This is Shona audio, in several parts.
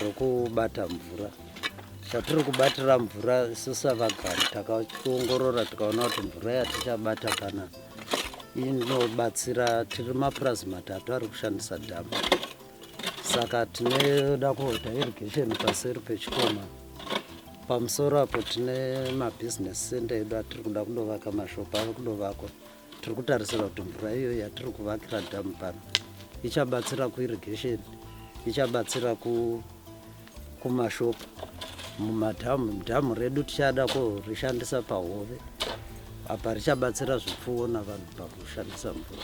rokubata mvura zvatiri kubatira mvura isu savagari takaongorora tikaona kuti mvura yatichabata kana inobatsira tiri mapurazi matatu ari kushandisa dhamu saka tinoda kuita irrigation paseri pechikoma pamusoro apo tine mabhizinesi sende edu atiri kuda kundovaka mashopu ave kundovakwa tiri kutarisira kuti mvura iyo yatiri kuvakira dhamu pano ichabatsira kuirrigation ichabatsira kumashopu mumadhamu dhamu redu tichada kurishandisa pahove apa richabatsira zvipfuwo navanhu pakushandisa mvura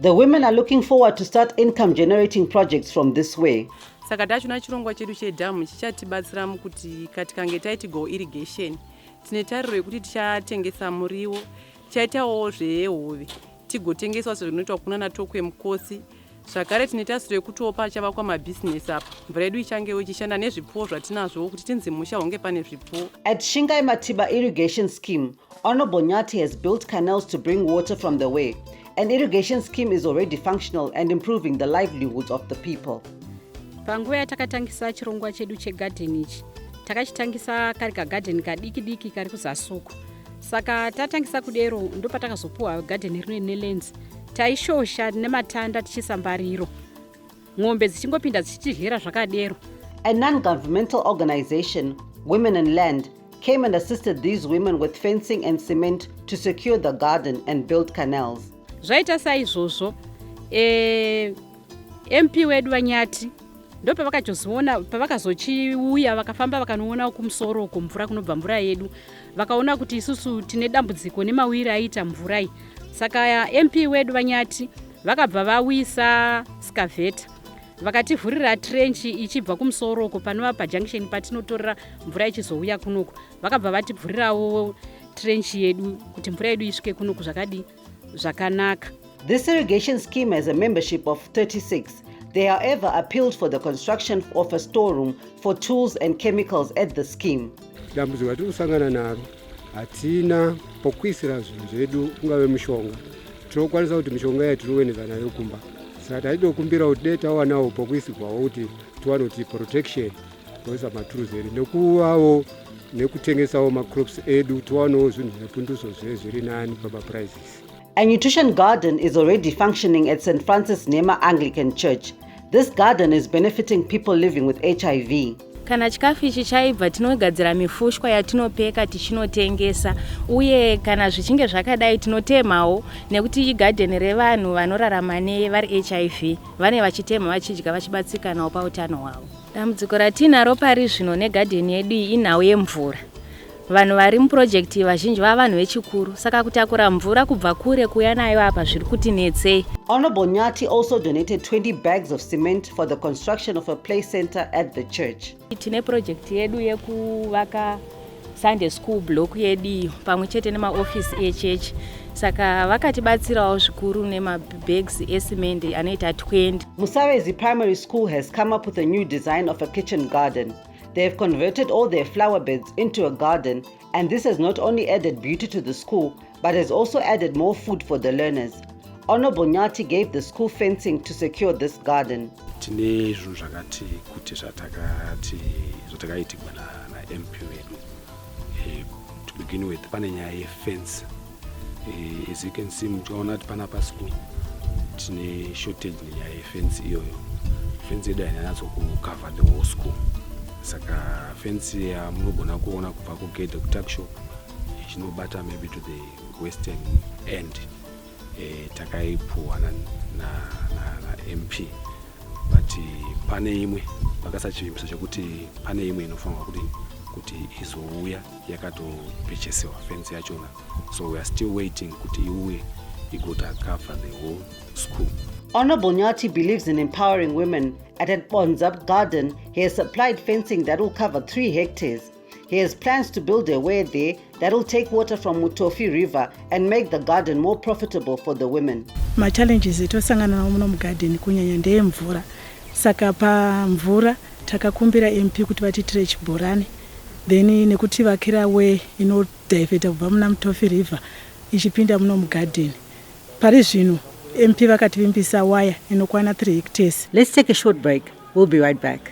the women are looking forward to start income generating projects from this way saka tachona chirongwa chedu chedhamu chichatibatsira mukuti katikange taiti go irrigation tine tariro yekuti tichatengesa muriwo Chaitawo zvehove tigotengeswa sezvinoitwa kuna natokwe mukosi zvakare tine tasiro yekutiwo pachavakwa mabhizinesi apa mvura yedu ichangewo ichishanda nezvipfuwo zvatinazvowo kuti tinzi musha hunge pane zvipfuwo at shingai matiba irrigation scheme honorable nyati has built canals to bring water from the way an irrigation scheme is already functional and improving the livelihoods of the people panguva yatakatangisa chirongwa chedu chegadheni ichi takachitangisa kari kagadheni kadiki diki kari kuzasuku saka tatangisa kudero ndopatakazopuwa gadheni rino rine lens taishosha nematanda tichiisa mbariro n'ombe dzichingopinda dzichitidyera zvakadero a non-governmental organization women and land came and assisted these women with fencing and cement to secure the garden and build canals zvaita saizvozvo e, eh, mp wedu vanyati ndopavakazoona pavakazochiuya vakafamba vakanoona kumusoro uko mvura kunobva mvura yedu vakaona kuti isusu tine dambudziko nemawiri aiita mvura iyi saka mp wedu vanyati vakabva vawisa skaveta vakativhurira trenchi ichibva kumusoro uko panova pajunction patinotorera mvura ichizouya kunoku vakabva vativhurirawo trenchi yedu kuti mvura yedu isvike kunoku zvakadii zvakanaka. This irrigation scheme has a membership of 36. They however appealed for the construction of a storeroom for tools and chemicals at the scheme. Dambudziko ratiri kusangana naro hatina pokuisira zvinhu zvedu ungave mushonga tinokwanisa kuti mishonga iya tinoweneza nayo kumba saka taitokumbira kuti dai tawanawo pokuisirwawo kuti tiwane kuti protection those are matools edu nekuvawo nekutengesawo macrops edu tiwanawo zvinhu zvepunduso zve zviri nani pamaprices A nutrition garden is already functioning at St. Francis Nema Anglican Church. This garden is benefiting people living with HIV. kana chikafu ichi chaibva tinogadzira mifushwa yatinopeka tichinotengesa uye kana zvichinge zvakadai tinotemhawo nekuti igadheni revanhu vanorarama nevari hiv vane vachitemha vachidya vachibatsikanawo pautano hwavo Dambudziko ratiinaro pari zvino negadheni yedu iyi inhau yemvura. Vanhu vari mupurojekiti iyi vazhinji vava vanhu vechikuru saka kutakura mvura kubva kure kuuya nayo apa zviri kuti netsei. Honourable Nyathi also donated 20 bags of cement for the construction of a play centre at the church. Tine purojekiti yedu yekuvaka Sunday school block yedu iyo pamwe chete nemaofisi echechi saka vakatibatsirawo zvikuru nemabags esimende anoita 20 musavezi primary school has come up with a new design of a kitchen garden they have converted all their flower beds into a garden and this has not only added beauty to the school but has also added more food for the learners. Honorable Nyati gave the school fencing to secure this garden. tine zvinhu zvakati kuti zvatakati zvatakaitigwa namp vedu eh, to begin with pane nyaya yefence eh, as you can see muchikaona kuti pana paschool tine shortage nenyaya yefence iyoyo fence yedu hainanatso kucover the whole school saka fence yamunogona kuona kubva kugedhe kutuckshop chinobata maybe to the western end e, takaipuwa na, na, na, na mp but pane imwe vakasachivimbiso chekuti pane imwe inofanirwa kuti kuti izouya yakatopechesewa fence yachona so weare still waiting kuti iuye igota cover the whole school Honorable Nyati believes in empowering women. At Bonzab Garden, he has supplied fencing that will cover three hectares. He has plans to build a well there that will take water from Mutofi River and make the garden more profitable for the women. Ma challenges etosangana nawo muno mugarden kunyanya ndeye mvura. Saka pa mvura takakumbira MP kuti vatiitire chibhorani then nekuti vakira way inodiveta kubva muna Mutofi River ichipinda muno mugarden. Pari zvino MP vakativimbisa waya inokwana 3 hectares. Let's take a short break. We'll be right back.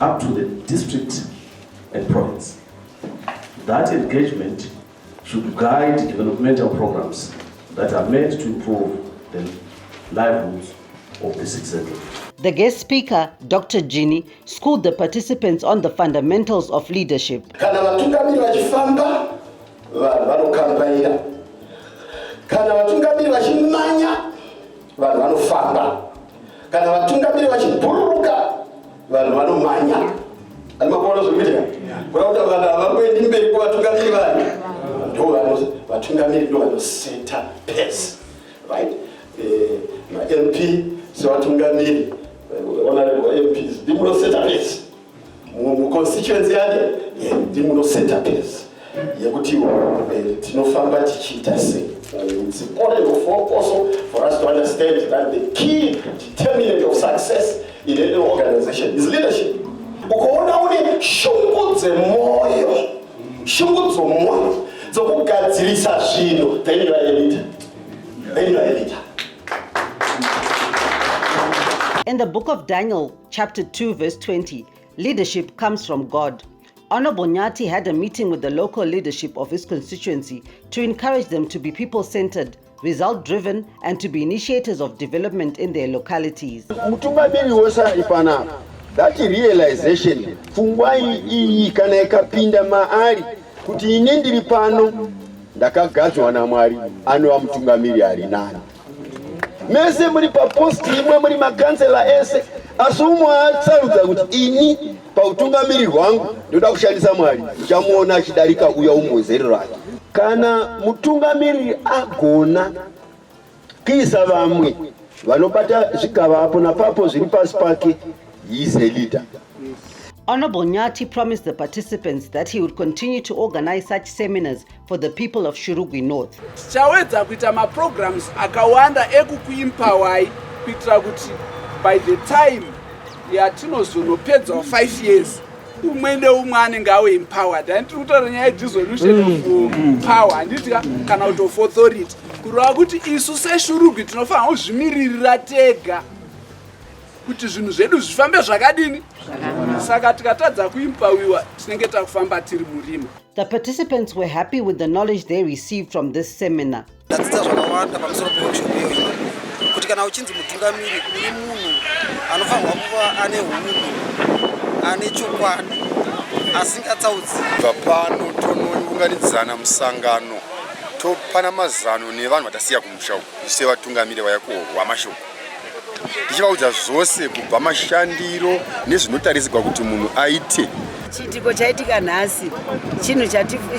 up to the district and province. That engagement should guide developmental programs that are meant to improve the livelihoods of the citizenry. The guest speaker, Dr. Gini, schooled the participants on the fundamentals of leadership. Kana vatungamiri vachifamba, vanhu vanokambaira. Kana vatungamiri vachimanya, vanhu vanofamba. Kana vatungamiri vachibhururuka vanhu vanomanya. Ani makuona zvekuitika? Kuda kuti vanhu havangoendi mberi kuvatungamiri vanhu. Ndovanhu vatungamiri ndo vanoseta pesi. Right? Eh, MP sevatungamiri. Honorable MPs. Ndimunoseta pesi. muconstituency yake ndimunoseta pesi yekuti eh, tinofamba tichiita sei it's important also for us to understand that the key determinant of success in any organization is leadership ukaona une shungu dzemoyo shungu dzomoyo dzokugadzirisa zvinhu then you are a leader then you are a leader In the book of Daniel, chapter 2 verse 20 leadership comes from god Honorable Nyati had a meeting with the local leadership of his constituency to encourage them to be people centered, result driven, and to be initiators of development in their localities. That realization pfungwa iyi kana ikapinda maari kuti ini ndiri pano ndakagadzwa namwari anova mutungamiri ari nani mese muri paposti imwe muri makansela ese asi umwe asarudza kuti ini pautungamiri hwangu ndoda kushandisa mwari uchamuona achidarika uya umwe wezero rake kana mutungamiriri agona kuisa vamwe vanobata zvigava apo napapo zviri pasi pake heis a leader Honorable Nyati promised the participants that he would continue to organize such seminars for the people of Shurugwi North. Tichawedza kuita maprograms akawanda ekukuimpawai kuitira kuti by the time yatinozonopedza 5 years umwe neumwe anenge awe empowered handi tiri kutaura nyaya yedisolution mm. of uh, mm. power handiti kana kuti of authority kureva kuti isu seshurugwi tinofanira kuzvimiririra tega kuti zvinhu zvedu zvifambe zvakadini saka tikatadza kuimpawiwa tinenge takufamba tiri murima The participants were happy with the knowledge they received from this seminar. Ndadzidza zvakawanda pamusoro peworkshop iyoyi kuti kana uchinzi mutungamiri uri munhu anofanirwa kuva ane hunhu ane chokwadi asingatsaudzi. Bva pano tonounganidzana musangano topana mazano nevanhu vatasiya kumusha uku sevatungamiri vaya kuhwa mashoko. ndichivaudza zvose kubva mashandiro nezvinotarisirwa kuti munhu aite chiitiko chaitika nhasi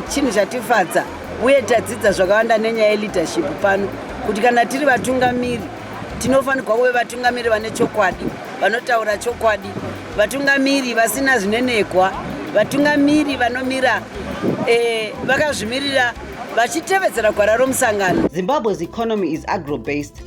chinhu chatifadza uye tadzidza zvakawanda nenyaya yeleadership pano kuti kana tiri vatungamiri tinofanirwa kuve vatungamiri vane chokwadi vanotaura chokwadi vatungamiri vasina zvinenekwa vatungamiri vanomira eh, vakazvimirira vachitevedzera gwara romusangano zimbabwe's economy is agrobased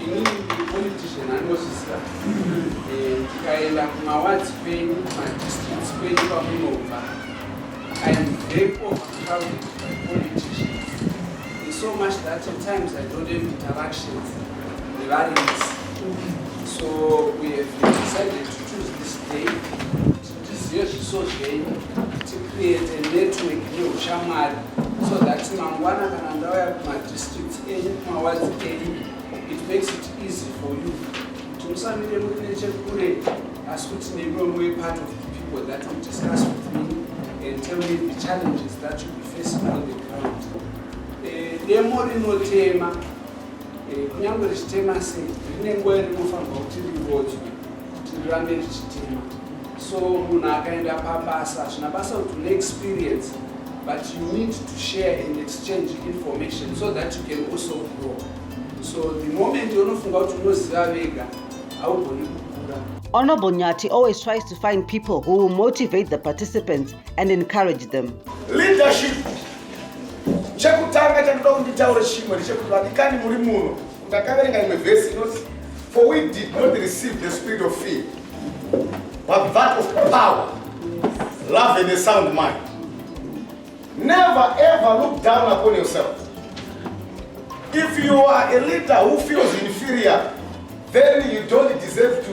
Ini politician anozviziva eh, tikaenda kumawards kwenyu kumadistricts kwenyu kwamunobva I'm very overcrowded by politicians. It's so much that at times I don't have interactions with variants. So we have decided to choose this day tizive zviso zvenyu ticreate network neushamwari so that mangwana kana ndauya kumadistricts enyu kumawadzi enyu it makes it easy for you kuti musamire muri nechekure asi kuti nemiwe muve part of the people that will discuss with me and tell me the challenges that you be facing on the ground eh, demo rinotema Eh, kunyange richitema sei rine nguva irinofanirwa kuti rivodzwe kuti rirambe richitema so munhu akaenda pabasa hazvina basa kuti une experience but you need to share and exchange information so that you can also grow so the moment unofunga kuti unoziva vega haugoni kukura Honorable Nyati always tries to find people who will motivate the participants and encourage them. Leadership chekutanga chandoda kuti nditaure chimwe ndechekuti vadikani muri muno ndakaverenga imwe vhesi inoti for we did not receive the spirit of fear but that of power love and a sound mind never ever look down upon yourself if you are a leader who feels inferior then you don't deserve to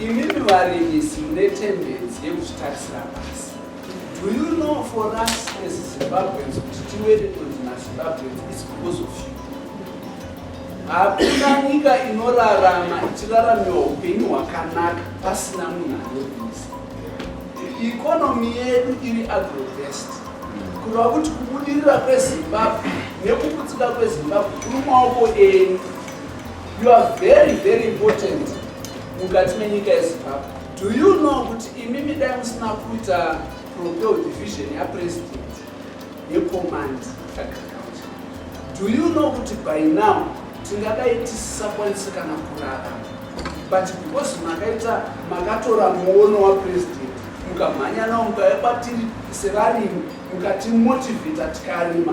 Imimi varimisi mune tendency yekuzvitarisira pasi. Do you know for us as Zimbabweans kuti tiweretwe dzina Zimbabweans is because of you. Hakuna nyika inorarama ichiraramiwa upenyu hwakanaka pasina munhu anorimisa. Economy yedu iri agrobest. Kureva kuti kubudirira kweZimbabwe nekuputsika kweZimbabwe kuri maoko enyu. You are very very important mukati menyika yeZimbabwe. Do you know kuti imimi dai musina kuita propel division yapresident yecommand agriculture? Do you know kuti by now tingadai tisisakwanisa kana kurara but because makaita makatora muono wapresident mukamhanya nawo mukauya kwatiri sevarimi mukatimotivheta tikarima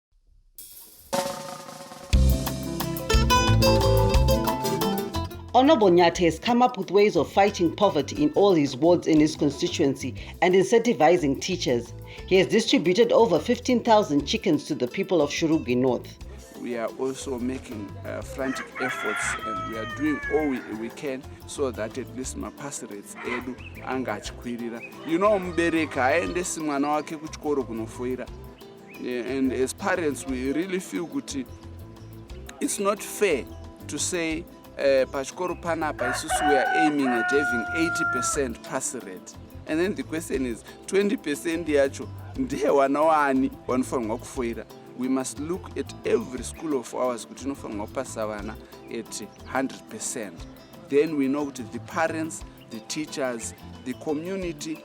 Honorable Nyati has come up with ways of fighting poverty in all his wards in his constituency and incentivizing teachers. He has distributed over 15,000 chickens to the people of Shurugi North. We are also making uh, frantic efforts and we are doing all we, we can so that at least mapasi rates edu anga achikwirira. You know mubereki haaendesi mwana wake kuchikoro kunofoira yeah, and as parents we really feel kuti it's not fair to say uh, pachikoro panapa isusu weare aiming at having 80 percent pass rate and then the question is 20 percent yacho ndiye wana waani wanofanirwa kufoira we must look at every school of ours kuti inofanirwa kupasa vana at 100 percent then we know kuti the parents the teachers the community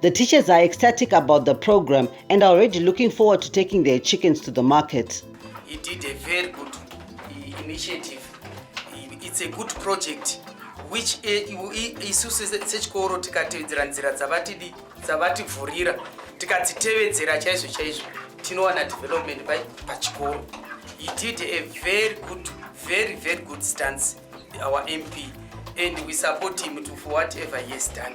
The teachers are ecstatic about the program and are already looking forward to taking their chickens to the market. He did a very good initiative. It's a good project which eh, isu sechikoro tikatevedzera nzira dzavatidi dzavativhurira tikadzitevedzera chaizvo chaizvo tinowana development pachikoro he did a very good very very good stance our mp and we support him to for whatever he has done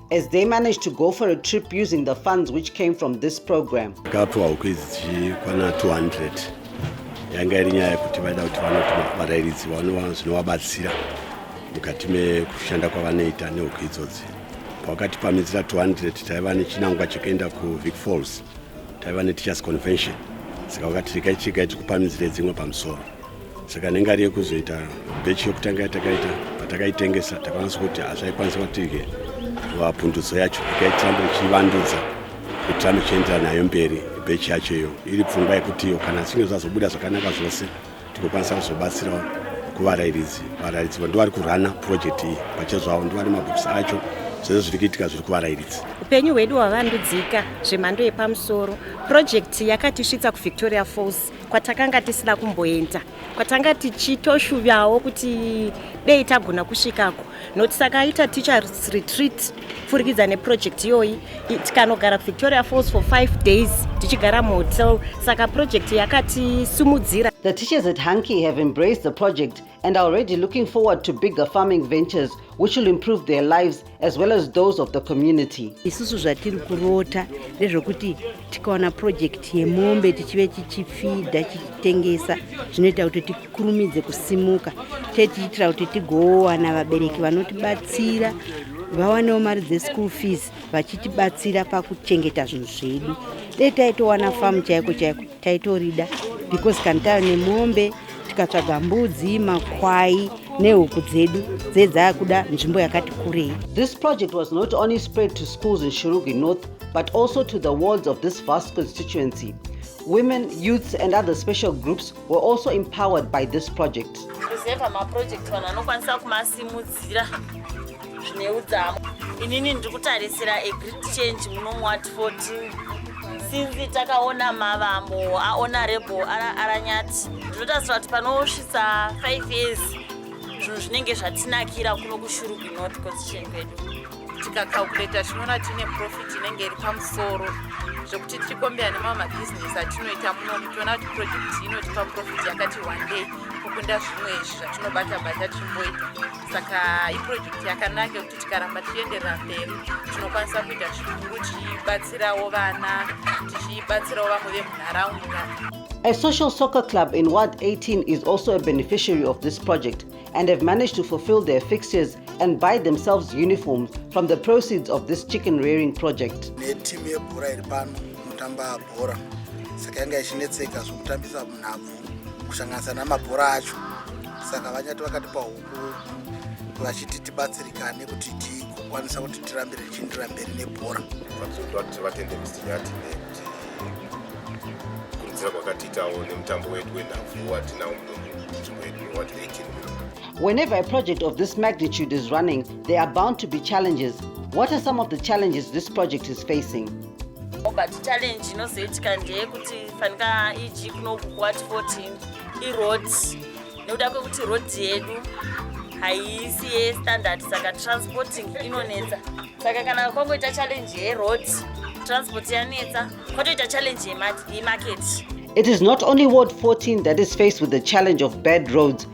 as they managed to go for a trip using the funds which came from this program. Kapiwa huku idzi dzichikwana 200 yanga iri nyaya yekuti vaida kuti vanoti varairidzi vanova zvinovabatsira mukati mekushanda kwavanoita nehuku idzodzi. Pakati pamidzira 200 taiva nechinangwa chekuenda kuVic Falls, taiva neTeachers Convention, saka vakati regai tichigai tikupamidzire dzimwe pamusoro. saka nenge ari yekuzoita bechi yokutanga yatakaita patakaitengesa takwanisa kuti hazvaikwanisa kwatike vapundudzo yacho ikaitiramba ichivandudza kutiramba ichiendera nayo mberi bechi yacho iyo iri pfungwa yekutiyo kana zvinge zvazobuda zvakanaka zvose tikokwanisa kuzobatsirawo kuvarairidzi varairidzi vo ndovari kurana purojekti iyi pachezvavo ndovane mabhokisi acho zvese zviri kuitika zviri kuvarairidzi upenyu hwedu hwavandudzika zvemhando yepamusoro purojekti yakatisvitsa kuvictoria falls kwatakanga tisina kumboenda kwatanga tichitoshuvawo kuti dei tagona kusvikako nokuti takaita teachers retreat pfurikidza neproject iyoyi tikanogara kuvictoria falls for five days tichigara muhotel saka project yakatisimudzira the teachers at hanky have embraced the project and are already looking forward to bigger farming ventures which will improve their lives as well as those of the community. Isusu zvatiri kurota ndezvokuti tikawana project yemombe tichive tichifidha tichitengesa zvinoita kuti tikurumidze kusimuka tee tichiitira kuti tigowana vabereki vanotibatsira vawanewo mari dzeschool fees vachitibatsira pakuchengeta zvinhu zvedu dai taitowana famu chaiko chaiko Taitorida because kana tava nemombe tikatsvaga mbudzi, makwai nehuku dzedu dze dzaakuda nzvimbo yakati kurei. This project was not only spread to schools in Shurugwi North but also to the wards of this vast constituency. Women, youths and other special groups were also empowered by this project. Kuzeva maproject vanhu anokwanisa kumasimudzira zvine udzamu inini ndiri kutarisira a great change muno muwatford since takaona mavambo aonarable aranyati ndinotarisira kuti panosvitsa 5 years zvinhu zvinenge zvatinakira kuno kushurugu not constitution kwedu tikacalculata tinoona tine profit inenge iri pamusoro zvekuti tichikombera nemamwe mabhizinesi atinoita munomu toona kuti project inotipa profit yakati one day kukunda zvimwe izvi zvatinobata bata tichimboita saka iprojekti yakanaka yekuti tikaramba tichienderera mberi tinokwanisa kuita zvikuru tichibatsirawo vana tichibatsirawo vamwe vemunharaunda A social soccer club in Ward 18 is also a beneficiary of this project and have managed to fulfill their fixtures and buy themselves uniforms from the proceeds of this chicken rearing project. Netimu yebhora iri pano inotamba bhora saka yanga ichinetseka zvokutambisa munhabvu kusanganisa namabhora acho saka vanyati vakatipa huku vachiti tibatsirikane kuti tikwanisa kuti tirambire tichiindira mberi nebhora vatizoda kuti vatende misinyati nekuti kurudzira kwakatiitawo nemutambo wedu wenhabvu watinawo munzvimbo yedu wewati 18 Whenever a project of this magnitude is running, there are bound to be challenges. What are some of the challenges this project is facing? but challenge inozoitika ndeyekuti fanika eg kunoku kuwati 14 iroad nekuda kwekuti road yedu haisi yestandard saka transporting inonetsa saka kana kwangoita challenge yeroad transport yanetsa kwatoita challenge yemarket It is not only Ward 14 that is faced with the challenge of bad roads,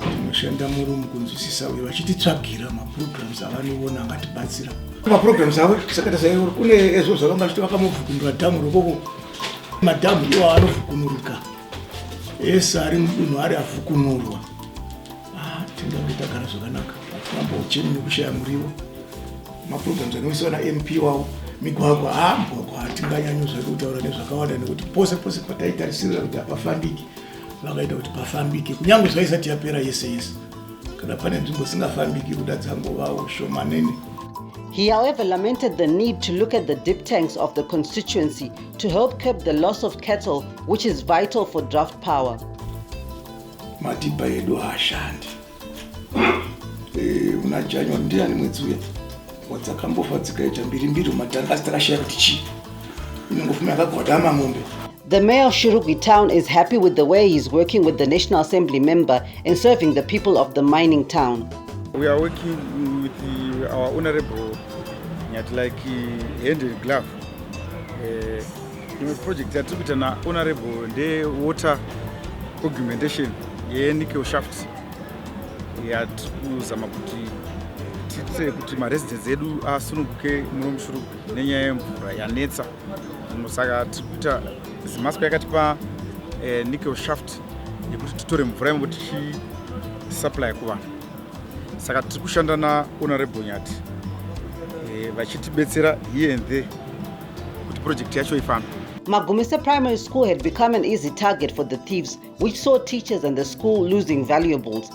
Tinoshanda murumu kunzwisisa uye vachititsvagira maprograms avanoona angatibatsira. Maprograms avo sakata saivori kune ezvo zvavanga vachiti vakamuvhukunura dhamu rokoko madhamu iwo anovhukunurika ese ari mudunhu ari avhukunurwa ah, tingange tagara zvakanaka atiramba ucheni nekushaya muriwo maprograms anoisiwa namp wavo migwagwa ha ah, mugwagwa hatinganyanyo zvake kutaura nezvakawanda nekuti pose pose pataitarisirira kuti hapafambiki vakaita kuti pafambike kunyange zvaisati yapera yese yese kana pane nzvimbo dzisingafambiki kuda dzangovawo shomanene He, however, lamented the need to look at the dip tanks of the constituency to help curb the loss of cattle, which is vital for draft power. Matipa edu haashandi. Eh, muna January ndiani mwedzi uya wadzakambova dzikaita mbiri mbiri umatanga asi takashaya kuti chii inongofuma yakagwadama mombe The mayor of Shurugwi town is happy with the way he's working with the National Assembly member in serving the people of the mining town. We are working with the, our honorable Nyatilaki hand in glove. Uh, Imwe project yatiri kuita naHonorable ndewater augmentation yenickel shaft yatiri kuzama kuti tiitire kuti maresidence edu asununguke muno mushurugu nenyaya yemvura yanetsa muno saka tiri kuita zimasco yakatipa eh, nickel shaft yekuti titore mvura imomo tichisupply kuvanhu saka tiri kushanda nahonorable nyati eh, vachitibetsera here and there kuti project yacho ifambe Magumese Primary School had become an easy target for the thieves, which saw teachers and the school losing valuables.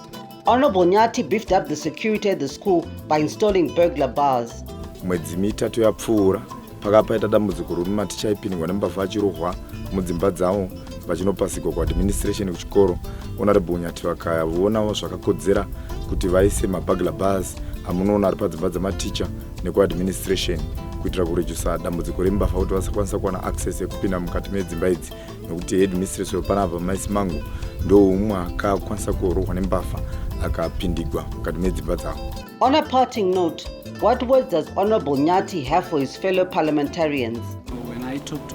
Honorable Nyati beefed up the security at the school by installing burglar bars. mwedzi mitatu yapfuura pakapa paita dambudziko rokuti maticha aipindwa nembavha achirohwa mudzimba dzavo vachinopasigwa kuadministration kuchikoro honorable unyati vakavonawo zvakakodzera kuti vaise mabagla bars amunoona ari padzimba dzematicha nekuadministration kuitira kurejusa dambudziko rembafa kuti vasakwanisa kuwana access yekupinda mukati medzimba idzi nekuti headmistress wepanapa maisi mangu ndoumwe akakwanisa kuorohwa nembafa akapindigwa mukati medzimba dzavo On a parting note, what words does Honorable Nyati have for his fellow parliamentarians? When I talk to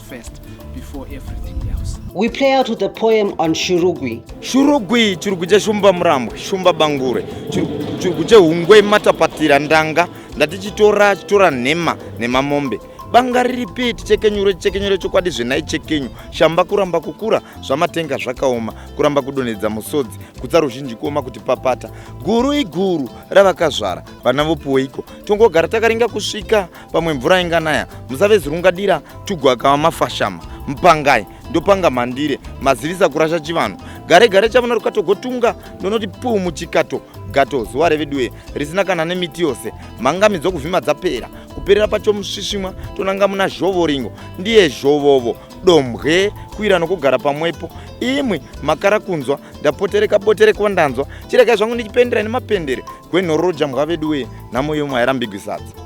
first before everything else. We play out with the poem on Shurugwi. Shurugwi, Shurugwi cha Shumba Murambwe, Shumba Bangure, Shurugwi cha Hungwe Matapatira Ndanga, ndati chitora chitora nhema nhema mombe. Banga riripi tichekenyure tichekenyure chokwadi zvenai chekenyu shamba kuramba kukura zvamatenga zvakaoma kuramba kudonhedza musodzi kutsa ruzhinji kuoma kuti papata guru iguru ravakazvara vana vopuweiko tongogara takaringa kusvika pamwe mvura inganaya musave zirungadira tugwakawa mafashama mpangai ndopanga mhandire mazivisa kurasha chivanhu gare gare chavona rukatogotunga ndonoti puu muchikato gato zuva reveduwe risina kana nemiti yose mhangami dzokuvhima dzapera kuperera pacho musvisvimwa tonanga muna zhovoringo ndiye zhovovo dombwe kuira nokugara pamwepo imwi makara kunzwa ndapotereka boterekwa ndanzwa chiregai zvangu ndichipendera nemapendere gwenhororo jambwa veduwe nhamo yomwe hairambigwi sadza